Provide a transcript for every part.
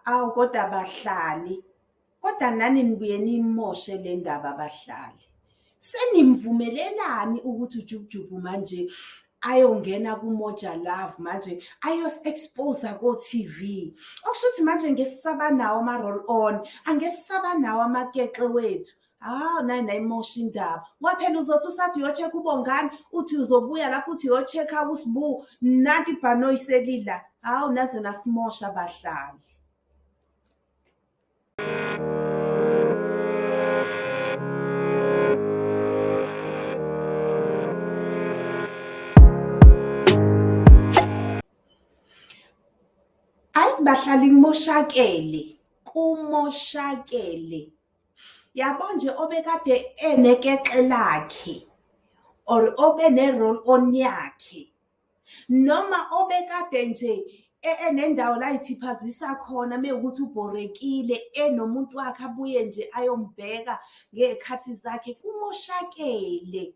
Awu kodwa bahlali, kodwa nani nibuye niyimoshe le ndaba bahlali. Senimvumelelani ukuthi uJukujuku manje ayongena kuMoja Love manje ayos-expose-a ko-T_V. Okusho ukuthi manje ngeke sisabanawo ama-roll on, angeke sisabanawo amakekle wethu. hawu ah, nayi nayimosha indaba waphela uzothi usathi uyocheck ubongani uthi uzobuya lapho uthi uyocheck usibu nanti ibhanoyi selila hawu ah, naze nasimosha abahlali ayi bahlali kumoshakele kumoshakele yabo nje obekade enekexe lakhe or obe ne-roll on yakhe noma obekade nje e, enendawo la ithiphazisa khona mewukuthi ubhorekile enomuntu wakhe abuye nje ayombheka ngey'khathi zakhe kumoshakele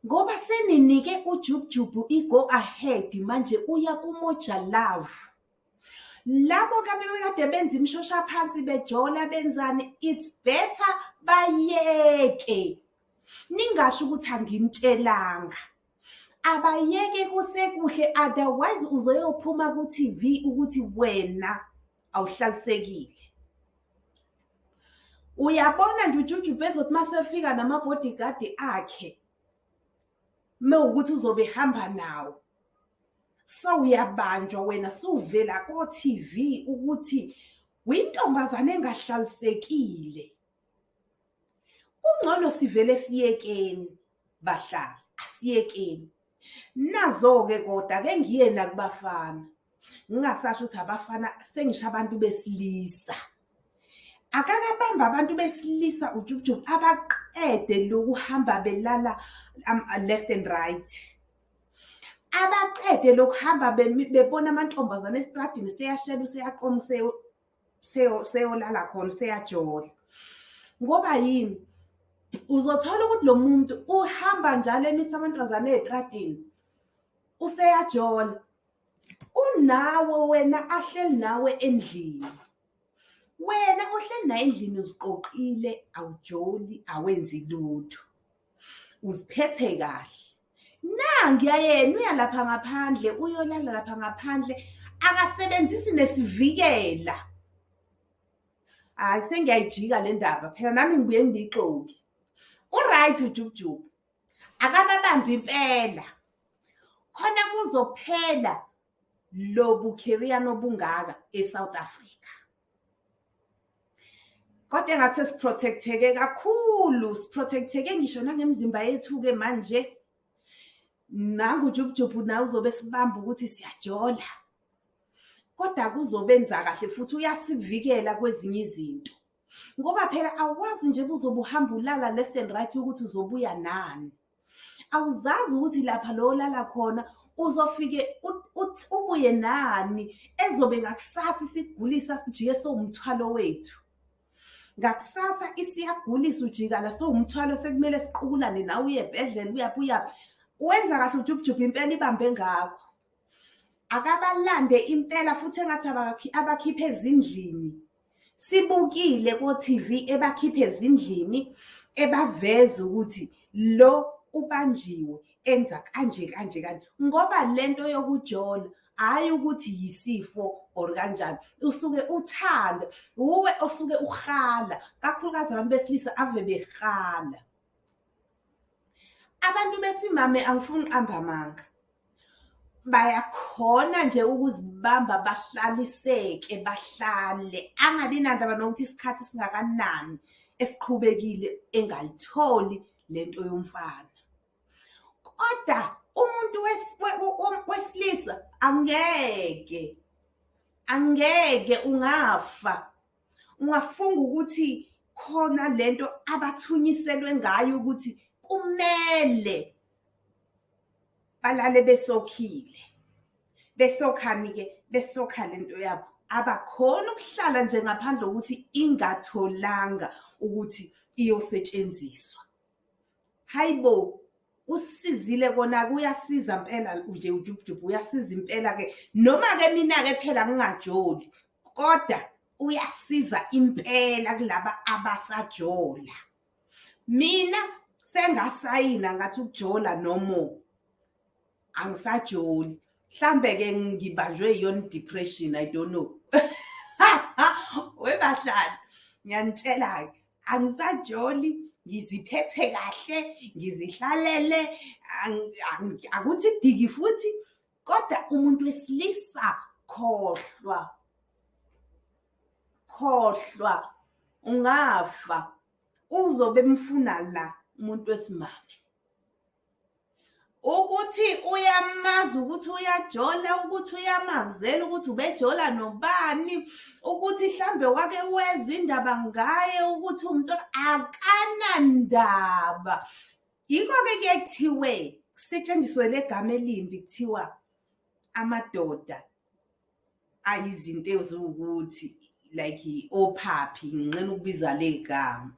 ngoba seninike ujubujubu i-go ahead manje uya kumoja love Labo ke abebekade benza imshosha phansi bejola benzani it's better bayeke. Ningasho ukuthi anginitshelanga. Abayeke kusekuhle otherwise uzoyophuma ku TV ukuthi wena awuhlalisekile. Uyabona nje uJuju bezothi masefika nama bodyguard akhe mewukuthi uzobe ehamba nawo. Sewuyabanjwa wena sewuvela ko-TV ukuthi wintombazane engahlalisekile. Kungcono sivele siyekeni bahlali, asiyekeni. Nazo-ke koda ke ngiye nakubafana. Ngingasasho ukuthi abafana sengisho abantu besilisa. Akakabamba abantu besilisa ujubujubu abaqede lokuhamba belala um, left and right. abaqede lokuhamba bebona amantombazane esitradini seyashela useyaqoma seyolala khona seyajola ngoba yini uzothola ukuthi lo muntu uhamba njalo emisa amantombazane ey'tradini useyajola unawe wena ahleli nawe endlini wena ohleli naye endlini uziqoqile awujoli awenzi lutho uziphethe kahle nangu yayena uya lapha ngaphandle uyolala lapha ngaphandle akasebenzisi nesivikela hayi sengiyayijika le ndaba phela nami ngibuye ngiyixoki uright ujubujubu akababambi impela khona kuzophela lobu carrier nobungaka eSouth Africa Kodwa engathi siprotecteke kakhulu, siprotecteke ngisho nangemizimba yethu-ke manje. Nangu uJubujubhu nawe uzobe esibamba ukuthi siyajola. Kodwa kuzobenza kahle futhi uyasivikela kwezinye izinto. Ngoba phela awazi nje ubuzobe uhamba ulala left and right ukuthi uzobuya nani. awuzazi ukuthi lapha lo olala khona uzofike ubuye nani ezobe ngakusasa isigulisa sijike sowumthwalo wethu ngakusasa isiyagulisa ujikala sowumthwalo sekumele siqukulane nawe uye ebhedlela uyaphi uyaphi wenza kahle ujubhujubha impela ibambe ngakho akabalande impela futhi engathi abakhiphe ezindlini Sibukile koTV ebakhipha ezindlini ebaveza ukuthi lo ubanjiwe enza kanje kanje kanje ngoba lento yokujola hhayi ukuthi yisifo or kanjani usuke uthanda wuwe osuke uhala kakhulukazi abantu besilisa ave behala Abantu besimame angifuni ukuqamba amanga, bayakhona nje ukuzibamba bahlaliseke bahlale angabi nandaba nokuthi isikhathi singakanani esiqhubekile engayitholi le nto yomfana. Kodwa umuntu wesilisa angeke, angeke ungafa. ungafunga ukuthi khona lento abathunyiselwe ngayo ukuthi kumele balale besokhile besokhani ke besokha lento yabo abakhona ukuhlala nje ngaphandle kokuthi ingatholanga ukuthi iyosetshenziswa hayibo kusizile kona kuyasiza mpela nje ujubujubu uyasiza impela ke noma ke mina ke phela ngingajoli kodwa uyasiza impela kulaba abasajola mina sengasayina ngathi ukujola nomo angisajoli mhlambe ke ngibanjwe iyona depression i don't know webahlali ngiyanitshela ke angisajoli ngiziphethe kahle ngizihlalele akuthi diki futhi kodwa umuntu wesilisa khohlwa khohlwa ungafa uzobe mfuna la umuntu wesimame ukuthi uyamazi ukuthi uyajola ukuthi uyamazela ukuthi ubejola nobani ukuthi hlambe wake wezwa indaba ngaye ukuthi umuntu akanandaba yikho-ke kuye kuthiwe kusetshenziswe le gama elimbi kuthiwa amadoda ayizinto eziwukuthi like ophaphi nginqena ukubiza le gama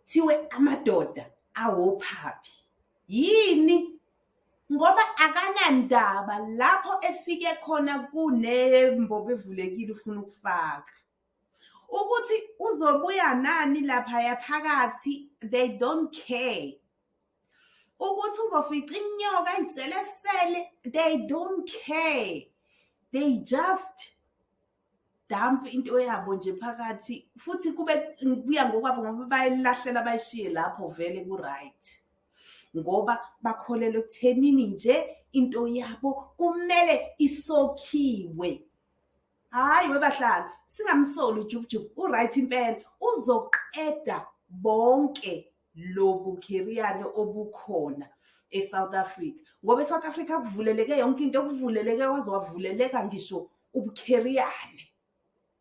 thiwe amadoda awophaphi yini ngoba akanandaba lapho efike khona kunembobo evulekile ufuna ukufaka ukuthi uzobuya nani lapha yaphakathi they don't care ukuthi uzofica inyoka izelesele they don't care they just dump into yabo nje phakathi futhi kube kuya ngokwabo ngoba bayilahlela bayishiye lapho vele ku-right ngoba bakholelwa ekuthenini nje into yabo kumele isokhiwe hhayi webahlali singamsoli ujubujubu u-right impela uzoqeda bonke lobukhiriyane obukhona eSouth Africa ngoba eSouth Africa kuvuleleke yonke into okuvuleleke waze wavuleleka ngisho ubukhiriyane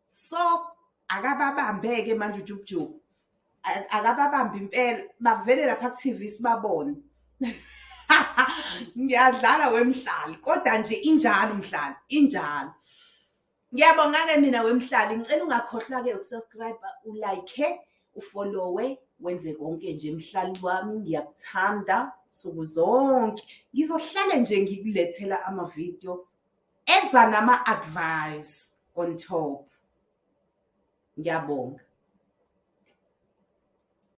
so akababambeke manje ujubujubu akababambi impela bavele lapha ku-TV sibabone ngiyadlala wemhlali kodwa nje injalo mhlali injalo Ngiyabonga-ke mina wemhlali ngicela ungakhohlwa-ke ukusubscribe ulike ufollowe wenze konke nje mhlali wami ngiyakuthanda nsuku zonke ngizohlale nje ngikulethela amavidiyo eza nama-advice on top ngiyabonga